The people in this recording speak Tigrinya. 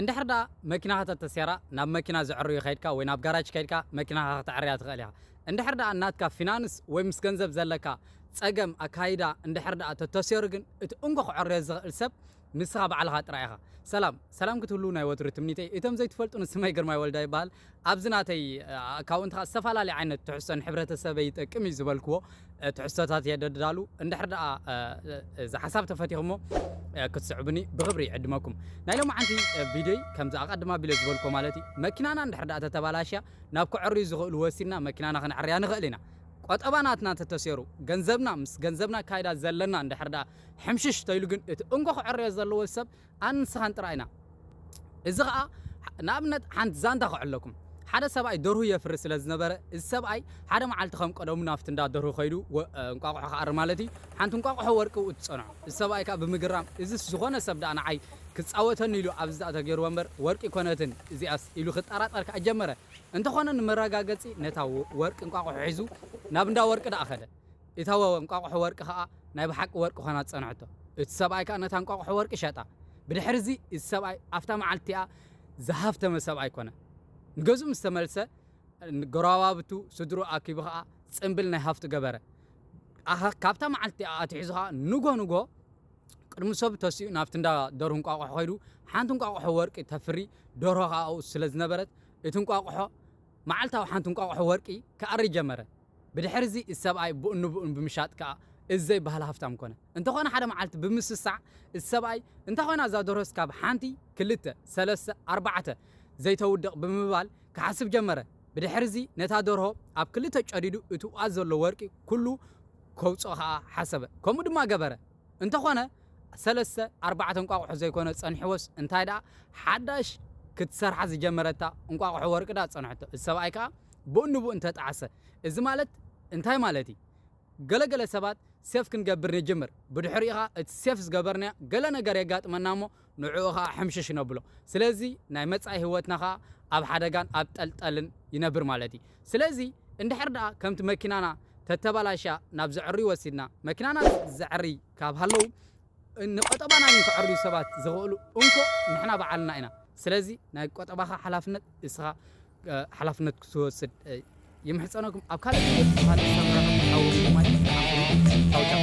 እንድሕር ደኣ መኪናኻ ተተስያራ ናብ መኪና ዘዕርዩ ከይድካ ወይ ናብ ጋራጅ ከይድካ መኪናኻ ክተዕርያ ትኽእል ኢኻ። እንድሕር ደኣ ናትካ ፊናንስ ወይ ምስ ገንዘብ ዘለካ ጸገም ኣካይዳ እንድሕር ደኣ ተተስዮሩ ግን እቲ እንኮ ክዕርዮ ዝኽእል ሰብ ንስኻ ባዕልኻ ጥራይ ኢኻ። ሰላም ሰላም ክትህልዉ ናይ ወትሩ ትምኒተይ እቶም ዘይትፈልጡኒ ስመይ ግርማይ ወልዳይ ይበሃል ኣብዚ ናተይ ኣካውንት ከኣ ዝተፈላለየ ዓይነት ትሕዝቶ ንሕብረተሰበይ ይጠቅም እዩ ዝበልክዎ ትሕዝቶታት እየ ደዳሉ። እንድሕር ደኣ እዚ ሓሳብ ተፈቲኽሞ ክትስዕቡኒ ብኽብሪ ይዕድመኩም። ናይ ሎምዓንቲ ቪድዮይ ከምዚ ኣቐድም ኣቢለ ዝበልክዎ ማለት እዩ መኪናና እንድሕር ደኣ ተተባላሽያ ናብ ከዐርዩ ዝኽእሉ ወሲድና መኪናና ከነዐርያ ንኽእል ኢና። ቆጠባ ናትና ተተሴሩ ገንዘብና ምስ ገንዘብና ኣካይዳ ዘለና እንድሕር ደኣ ሕምሽሽ ተይሉ ግን እቲ እንኮ ክዐርዮ ዘለዎ ሰብ ኣን ንስኻን ጥራይ ኢና እዚ ኸኣ ንኣብነት ሓንቲ ዛንታ ክዕለኩም ሓደ ሰብኣይ ደርሁ የፍሪ ስለ ዝነበረ እዚ ሰብኣይ ሓደ መዓልቲ ከም ቀደሙ ናብቲ እንዳ ደርሁ ከይዱ እንቋቑሖ ክኣሪ ማለት እዩ ሓንቲ እንቋቑሖ ወርቂ ኣብኡ ትጸንሖ እዚ ሰብኣይ ከኣ ብምግራም እዚስ ዝኾነ ሰብ ደኣ ንዓይ ክጻወተኒ ኢሉ ኣብዚ ደኣ ተገይርዎ እምበር ወርቂ ኣይኮነትን እዚኣስ ኢሉ ክጠራጠር ከኣ ጀመረ እንተኾነ ንመረጋገጺ ነታ ወርቂ እንቋቑሖ ሒዙ ናብ እንዳ ወርቂ ደኣ ከደ እታ ወወ እንቋቑሖ ወርቂ ኸኣ ናይ ብሓቂ ወርቂ ዀና ጸንሐቶ። እቲ ሰብኣይ ከኣ ነታ እንቋቑሖ ወርቂ ሸጣ። ብድሕርዚ፣ እዚ ሰብኣይ ኣብታ መዓልቲ እቲኣ ዝሃብተመ ሰብኣይ ኰነ። ንገዝኡ ምስ ተመልሰ፣ ንጐረባብቱ፣ ስድርኡ ኣኪቡ ኸኣ ጽምብል ናይ ሃብቱ ገበረ። ኣሃ፣ ካብታ መዓልቲ እቲኣ ኣትሒዙ ኸኣ ንግሆ ንግሆ ቅድሚ ሰብ ተሲኡ ናብቲ እንዳ ደርሁ እንቋቑሖ ኸይዱ ሓንቲ እንቋቑሖ ወርቂ ተፍሪ ደርሆ ኸኣ ኣብኡ ስለ ዝነበረት፣ እቲ እንቋቑሖ መዓልታዊ ሓንቲ እንቋቑሖ ወርቂ ክኣሪ ጀመረ። ብድሕርዚ እቲ ሰብኣይ ቡእንቡእን ብምሻጥ ከኣ እዚ ዘይበሃል ሃፍታም ኮነ። እንተኾነ ሓደ መዓልቲ ብምስሳዕ እቲ ሰብኣይ እንታይ ኮይና እዛ ደርሆስ ካብ ሓንቲ፣ ክልተ፣ ሰለስተ፣ ኣርባዕተ ዘይተውድቕ ብምባል ክሓስብ ጀመረ። ብድሕርዚ ነታ ደርሆ ኣብ ክልተ ጨዲዱ እቲ ኡኣ ዘሎ ወርቂ ኩሉ ከውጽኦ ከኣ ሓሰበ። ከምኡ ድማ ገበረ። እንተኾነ ሰለስተ ኣርባዕተ እንቋቑሖ ዘይኮነ ጸኒሕዎስ እንታይ ደኣ ሓዳሽ ክትሰርሓ ዝጀመረታ እንቋቑሖ ወርቂ ደኣ ጸንሐቶ። እዚ ሰብኣይ ከኣ ብኡንብኡ እንተ ጠዓሰ። እዚ ማለት እንታይ ማለት እዩ? ገለ ገለ ሰባት ሴፍ ክንገብር ንጅምር። ብድሕሪኡ ከኣ እቲ ሴፍ ዝገበርናዮ ገለ ነገር የጋጥመና እሞ ንዕኡ ኸኣ ሕምሽሽ ነብሎ። ስለዚ ናይ መጻኢ ህይወትና ኸኣ ኣብ ሓደጋን ኣብ ጠልጠልን ይነብር ማለት እዩ። ስለዚ እንድሕር ደኣ ከምቲ መኪናና ተተበላሽያ ናብ ዘዐርዩ ወሲድና፣ መኪናና ዘዐርይ ካብ ሃለው ንቆጠባና ግን ከዐርዩ ሰባት ዝኸእሉ እንኮ ንሕና ባዕልና ኢና። ስለዚ ናይ ቆጠባኻ ሓላፍነት እስኻ ሓላፍነት ክትወስድ ይምሕጸነኩም። ኣብ ካልእ ቪድዮ ምስ ካልእ ሰብ ንራኸብ። ሓው ሪመይ ደሓን ኩኑ። ቻው ቻው።